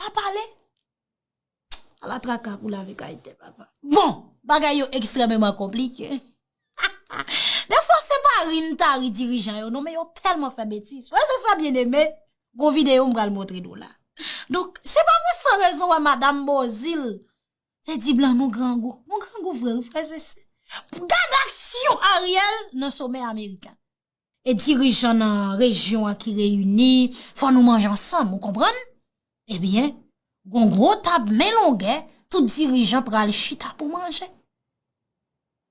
Pa pale. A la traka pou lavi ka ete papa. Bon, bagay yo ekstrememan konplike. De fwa se pa ri m ta ri dirijan yo non men yo telman fè betis. Wè se sa byen eme, gon videyo m pral montre nou la. Donk, se pa pou san rezon wè madam Bozil te di blan nou grangou. Nou grangou vre wi frèzese. Gad aksyon Ariel nan somè Amerikan. e dirijan nan rejyon an ki reyini, fò nou manje ansanm, ou konprann? Ebyen, gon gwo tab men longè, tout dirijan pral chita pou manje.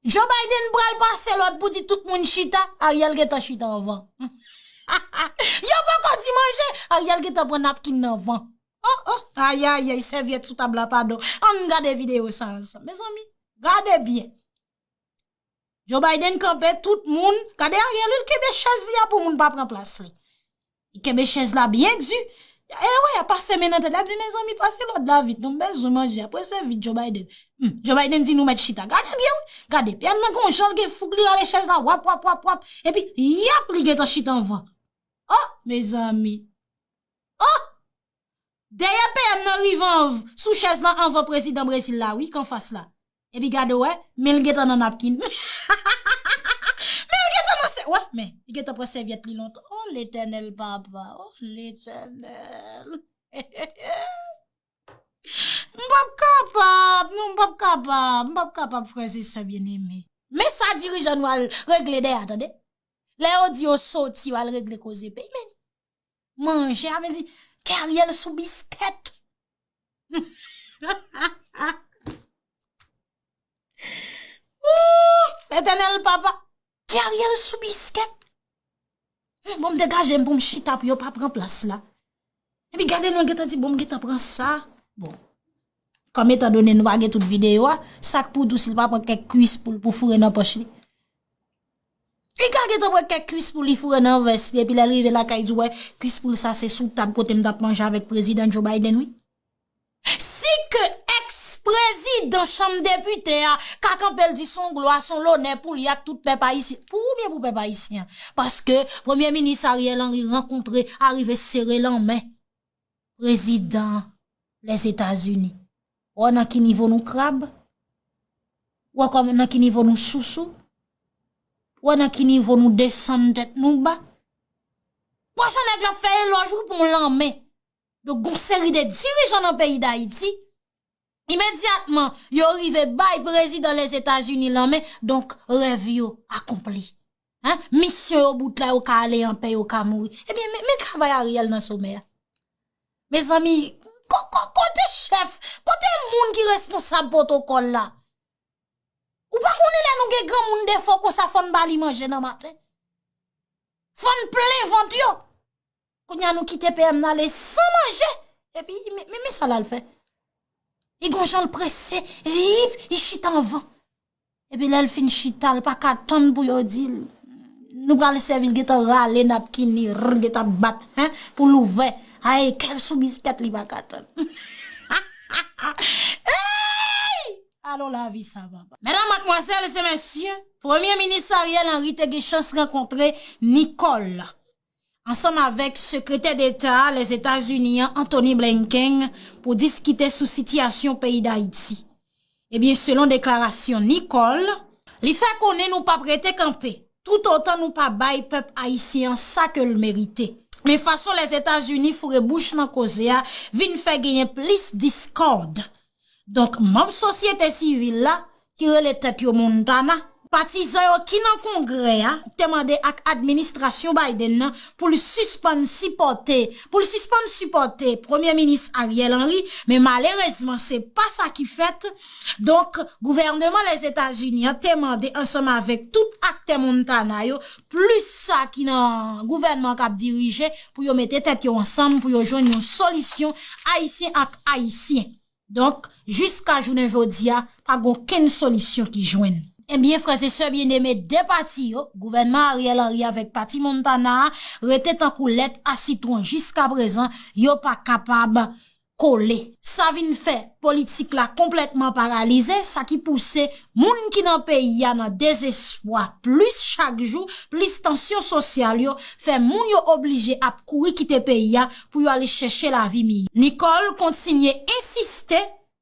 Joe Biden pral pase lòd pou di tout moun chita, Ariel gentan chita anvan. Yo poko di manje, Ariel gentan pran napkin nan anvan. Oh oh, ayayay, sèvyèt sou tab la padon. Ann gade videyo sa ansanm. Mezanmi, gade byen. Joe Biden kanpe tout moun gade Ariel wi l kenbe chèz li a pou moun pa pran plas li li kenbe chèz la byen di e wi a pase men nan tèt li ap di mezanmi pase lòd la vit non m bezwen manje a prese vit Joe Biden m Joe Biden di nou mèt chita gade byen wi gade pyè m nan gon jan l gen foug li rale chèz la wap wap wap wap epi yap li gentan chita anvan oh mezanmi oh dèyè PM nan rive anv sou chèz lan anvan prezidan Brezil la wi k anfas la Epi gade w wè, men l gentan nan napkin. Men l gentan nan sè. Wè, men, li gentan pran sèvyèt li lontan. O Letènèl papa, o Letènèl. M p ap kapab, non m p ap kapab, m p ap kapab frèz e sè byeneme. Men sa dirijan nou al regle dèyè a tande. Lè yo di yo soti yo al regle koze peyi men. manje a vezi ke ariel sou bisket ooh etènèl papa ke ariel sou bisket bonm de gaje m pou m chita pou yo pa pran plas la epi gade nou geta di bonm geta pran sa bon kòm etan donen nou pa gen tout videyo a sak pou dous li pa pran kèk kuis pou l pou foure nan pòch li. Li ka gentan pran kèk kwis pou li foure nan vès li epi lè l rive lakay di wè kwis poul sa se sou tab kote m t ap manje avèk prezidan Joe Biden wi. Si ke èks prezidan chanm depite a ka kanpe l di s on glwa, s on lonè pou li ak tout pèp ayisyen, pou ou oubyen pou pèp ayisyen? Paske premye minis Ariel Henry rankontre arive sere l anmen. Prezidan Lèzetazini. Ou wè nan ki nivo nou krab? Ou wè kòman nan ki nivo nou sousou? Ou wè nan ki nivo nou desann tèt nou ba? Pwazon nèg la fè elòj ou pou yon lanmè. Donk gon seri de dirijan nan peyi Dayiti. Imedyatman, yo rive bay prezidan Lèzetazini lanmen, donk rèv yo akonpli. Misyon yo bout la, yo ka ale anpè, yo ka mouri. Ebyen, men travay Ariel nan somè a. Mezanmi, kote chèf, kote moun ki responsab pwotokòl la? Ou pa konnen lè nou gen granmoun defo konsa fò n ba li manje nan maten? Fò n plen vant yo? Kounya nou kite PM nan ale san manje. Epi, men sa lal fè. Li gon janl prese, riip, li chita anvan. Epi lèl fin chita, li pa ka tann pou yo dil. Nou pral sèvi, li gentan rale napkin li, rrr, gentan ap bat, hein, pou l ouvè. Ay, kèl sou biskèt li pa ka tann. Ha, ha, ha, eeyy! Alon lavi sa papa. Medam, matmwazèl e mesye, Premye Minis Ariel Henry te gen chans rankontre Nicole. ansanm avèk Sekretè Deta Lèzetazini an Antony Blinken pou diskite sou sitiyasyon peyi Dayiti. Ebyen selon deklarasyon Nicole, li fè konnen nou pap rete kanpe toutotan nou pa bay pèp ayisyen an sa ke l merite. Men fason Lèzetazini foure bouch nan koze a vin fè genyen plis diskòd Donk manm sosyete sivil la ki rele tèt yo Montana, patizan yo ki nan Kongrè a te mande ak administrasyon Biden nan pou l sispann sipòte pou l sispann sipòte Premye Minis Ariel Henry men malerezman se pa sa ki fèt donk gouvèneman Lèzetazini an te mande ansanm avèk tout aktè Montana yo plis sa ki nan gouvènman k ap dirije pou yo mete tèt yo ansanm pou yo jwenn yon solisyon ayisyen ak ayisyen donk jiska jounen jodi a pa gen okenn solisyon ki jwenn. Ebyen frè se sè byen eme 2 pati yo gouvènman Ariel Henry avèk pati Montana a rete tankou lèt a sitwon jiska prezan yo pa kapab kole. Sa vin fè politik la konplètman paralize, sa ki pouse moun ki nan peyi a nan dezespwa plis chak jou, plis tansyon sosyal yo fè moun yo oblije ap kouri kite peyi a pou yo ale chèche lavi miyò. Nicole kontinye ensiste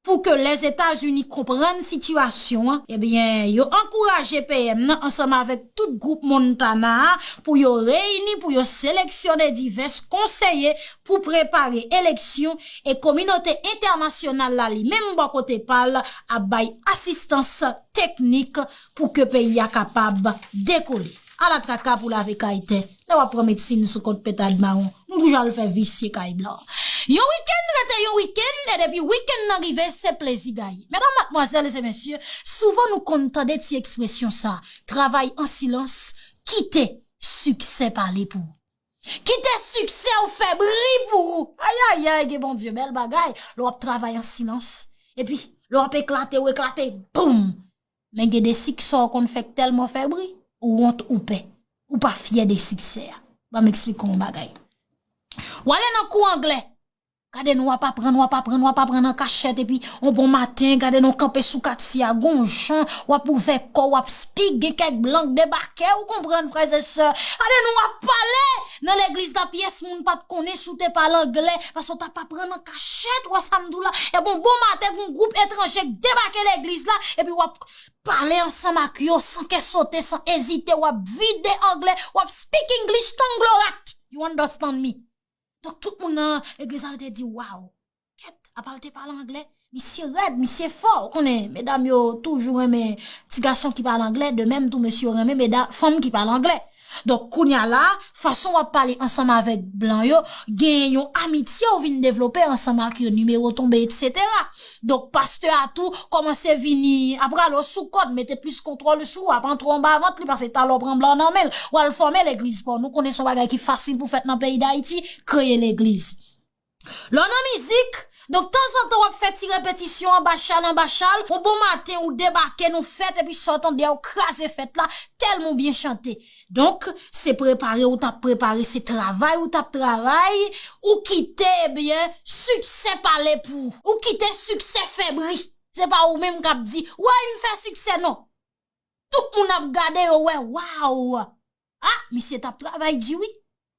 pou ke Lèzetazini konprann sitiyasyon an, ebyen yo ankouraje PM nan ansanm avèk tout gwoup Montana a pou yo reyini pou yo seleksyone divès konseye pou prepare eleksyon e kominote entènasyonal la li menm bò kote pa l ap bay asistans teknik pou ke peyi a kapab dekole. Ala traka pou lave kay tè lè w ap pran medsin sou kont pentad mawon m pou jan l fè visye kay blan. Yon wikenn rete yon wikenn e depi wikenn nan rive se plezi gaye. Medam, madmwazèl e mesye, souvan nou konn tande ti ekspresyon sa, travay an silans, kite siksè pale pou ou. Kite siksè w fè bri pou ou. Ayayay gen Bondye bèl bagay lè w ap travay an silans epi lè w ap eklate ou eklate boum men gen de siksè w konn fè k tèlman fè bri ou wont ou pè ou pa fyè de siksè a ban m esplike w yon bagay w ale nan kou anglè Gade nou wap aprann, wap aprann, wap aprann an kachèt epi on bon maten gade nou kanpe sou katye a gon jan wap ouvè kò w wap spik gen kèk blan k debake ou konprann frè e sè gade nou wap pale nan legliz la pyès moun pat konnen si w te pale angle paske w tap aprann an kachèt wè sa m di w la epi on bon maten gon gwoup etranje k debake legliz la epi wap pale ansanm ak yo san kè sote san ezite wap vide angle wap spik english tanglorat you understand me. Donk tout moun nan legliz la yo te di waw. Kèt, apa l te pale angle? Misye rèd, misye fò, ou konnen medam yo toujou renmen ti gason ki pale angle, de menm tou mesye yo renmen meda, fanm ki pale angle. Donk kounye a la, fason w ap pale ansanm avèk blan yo, gen yon amitye ou vin devlope ansanm ak yo, nimewo tonbe, etsetera. Donk pastè a tou kòmanse vini ap rale w sou kòd, mete plis kontwòl sou w, ap antre w anba vant li pase talè w pran blan nan men l, w al fòme legliz pa w. Nou konnen se yon bagay ki fasil pou fèt nan peyi Dayiti, kreye legliz. Lè w nan mizik, donk tanzantan w ap fè ti repetisyon anba chal anba chal, yon bon maten ou debake nou fèt epi sa w tande a ou kraze fèt la tèlman w byen chante. Donk, se prepare ou t ap prepare, se travay ou t ap travay, ou kite ebyen siksè pale pou ou. Ou kite siksè fè bri. Se pa ou menm k ap di, wey m fè siksè non. Tout moun ap gade yo wè, waw! A, misye t ap travay di wi.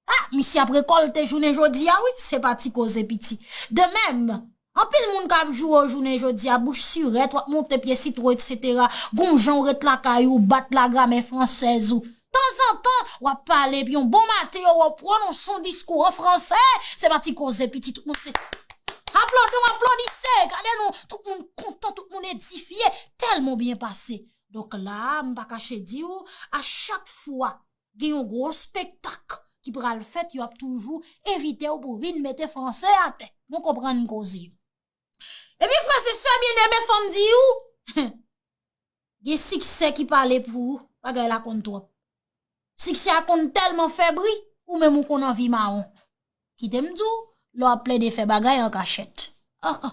Ah misye ap rekolte jounen jodia wi se pa ti koze piti. De mèm, anpil moun kap joure w jounen jodia, bouch sirèt, wap monte pye sitwon etc. Gonw jan w ret lakay ou, bat la gramè fransèz ou. Tanzantan, wap pale epi yon bon maten yo wè w pwononse yon diskou an fransè, se pa ti koze piti tout moun se Aplodi w aplodise, gade nou, tout moun kontan, tout moun edifye, tèlman w byen pase. Donk la a, m pa kache di w, a chak fwa Gen yon gwo spektak ki pral fèt, yo ap toujou envite ou pou vin mete franse a tè. Nou konprann koze. E pi frè se sè byen eme fòm di ou, gen siksè ki pale pou ou, bagay la konn twòp. Siksè a konn tèlman fè bri, ou menm ou konn anvi mawon. Kite m di w, lè w ap plede fè bagay an kachèt. An an.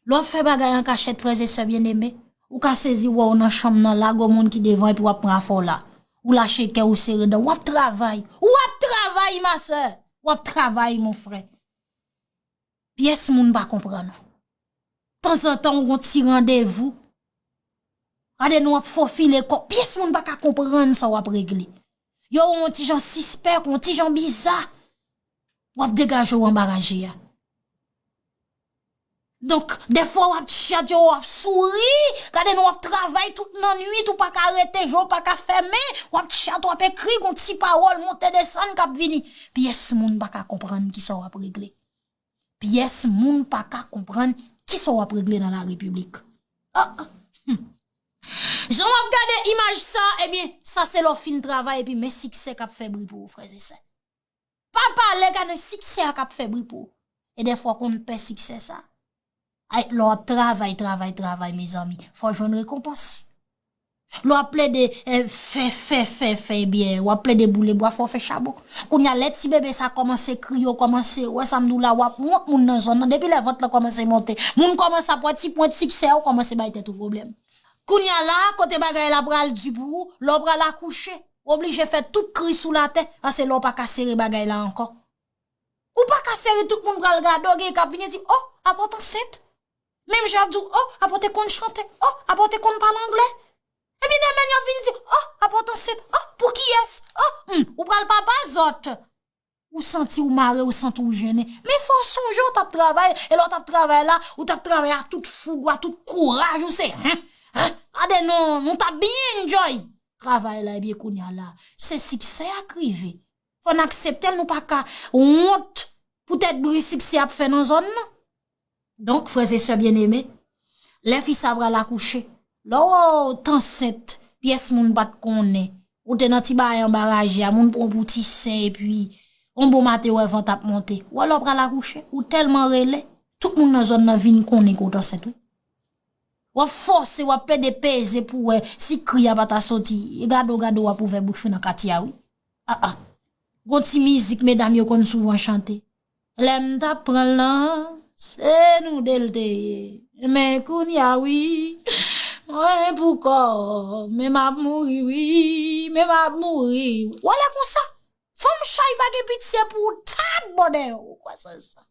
Lè w ap fè bagay an kachèt, frè e sè byeneme, ou ka sezi wè w nan chanm nan la, gwo moun ki devan epi w ap pran afè w la. Ou lache kè w, ou sere dan w. W ap travay. W ap travay, ma sè! W ap travay, mon frè. Pyès moun pa konprann ou. Tanzantan ou gon ti randevou. Gade nou ap fofile kò. Pyès moun pa ka konprann sa w ap regle. Yo wè w on ti jan sispèk, on ti jan biza. W ap degaje w anba raje a. Donk, defwa w ap tchatche, w ap souri. Gade nou w ap travay tout nan nwit, ou pa ka rete, je w pa ka fèmen. W ap tchatche, w ap ekri, gon ti pawòl monte desann k ap vini. Pyès moun pa ka konprann ki sa w ap regle. Pyès moun pa ka konprann ki sa w ap regle nan la repiblik. Jan w ap gade imaj sa, ebyen, sa se lè w fin travay epi men siksè k ap fè bri pou ou, frèz e sè. Pa pale gade siksè a k ap fè bri pou ou. E dèfwa w konn pè siksè sa. Ay lè w ap travay travay travay mezanmi fò w jwenn rekonpans lè w ap plede fè fè fè fè ebyen w ap plede boule bwa fò w fè chabon kounye a lè ti bebe sa kòmanse kriye w kòmanse wè sa m di w la w ap wont moun nan zòn nan depi lè vant lan kòmanse monte moun kòmanse ap wè ti pwent siksè w kòmanse bay tèt ou pwoblèm kounye a la kote bagay la pral di pou ou lè w pral akouche w oblije fè tout kri sou latè pase lè w pa ka sere bagay la ankò. Ou pa ka sere tout moun pral gade w gen kap vini di oh apa w t ansent menm jan yap di w oh apa w te konn chante oh apa w te konn pale anglè epi demen yap vini di oh apa w t ansent oh pou kiyès oh humm ou pral papa zòt ou santi w mare ou santi w jennen men fò w sonje w tap travay e lè w tap travay la ou tap travay a tout foug ou a tout kouraj ou se hen hen gade nou nou tap byen enjoy travay la ebyen kounya la se siksè ak rive Fò n aksepte l, nou pa ka wont pou tèt bri siksè ap fè nan zòn nan. Donk, frèzesè byeneme, lè fi sa pral akouche, lè w t ansent, pyès moun pa t konnen, ou te nan ti bagay anba raje a, moun pran w pou ti sen, epi, yon bon maten wè vant ap monte, wè lè w pral akouche, ou tèlman rele, tout moun nan zòn nan vin konnen ke w t ansent wi. W ap fòse, w ap pede peze pou wè si kri a pa ta soti, e gade w gade w ap ouvè bouch ou nan katye a wi. Ah ah Gon ti mizik medam yo konn souvan chante Lè m t ap pran l nan Se nou de l te ye Men kounya wi Mwen pou kò Men m ap mouri wi Men m ap mouri wi Wale konsa Fanm chay pa gen pitye pou ou Taat bòdè ou Ou kwè se sa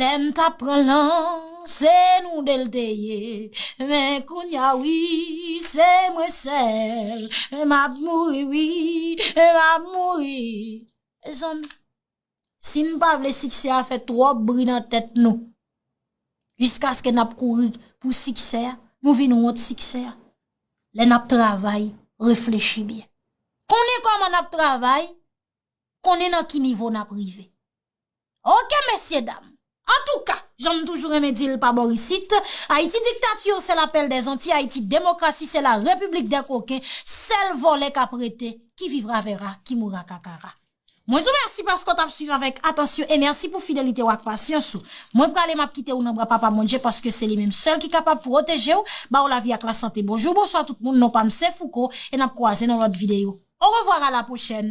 Lè m tap pran lan se nou de l te ye Men kounya wi se mwen sèl M ap mouri wi, m ap mouri Mezanmi si n pa vle siksè a fè twòp bri nan tèt nou Jiskaske n ap kouri pou siksè a Nou vin wont siksè a Lè n ap travay reflechi byen Konnen kòman n ap travay Konnen nan ki nivo n ap rive Ok mesye dam. Antouka, jan m toujou renmen di l pa bor isit, Ayiti diktature se la pèl dè anti Ayiti demokrasi se la repiblik dè koken, sèl vòlè k ap rete, ki vivra vèra, ki moura kakara. Mwen di w mèsi paske w t ap swiv avèk atansyon e mèsi pou fidelite w ak pasyans ou. Mwen prale m ap kite w nan bra Papa Bondye paske se li menm sèl ki kapab pwoteje w, ba w lavi ak lasante. Bonjou, bonswa tout moun, non pa m se Fouco e n ap kwaze nan lòt videyo. Orevwar a la pwochèn,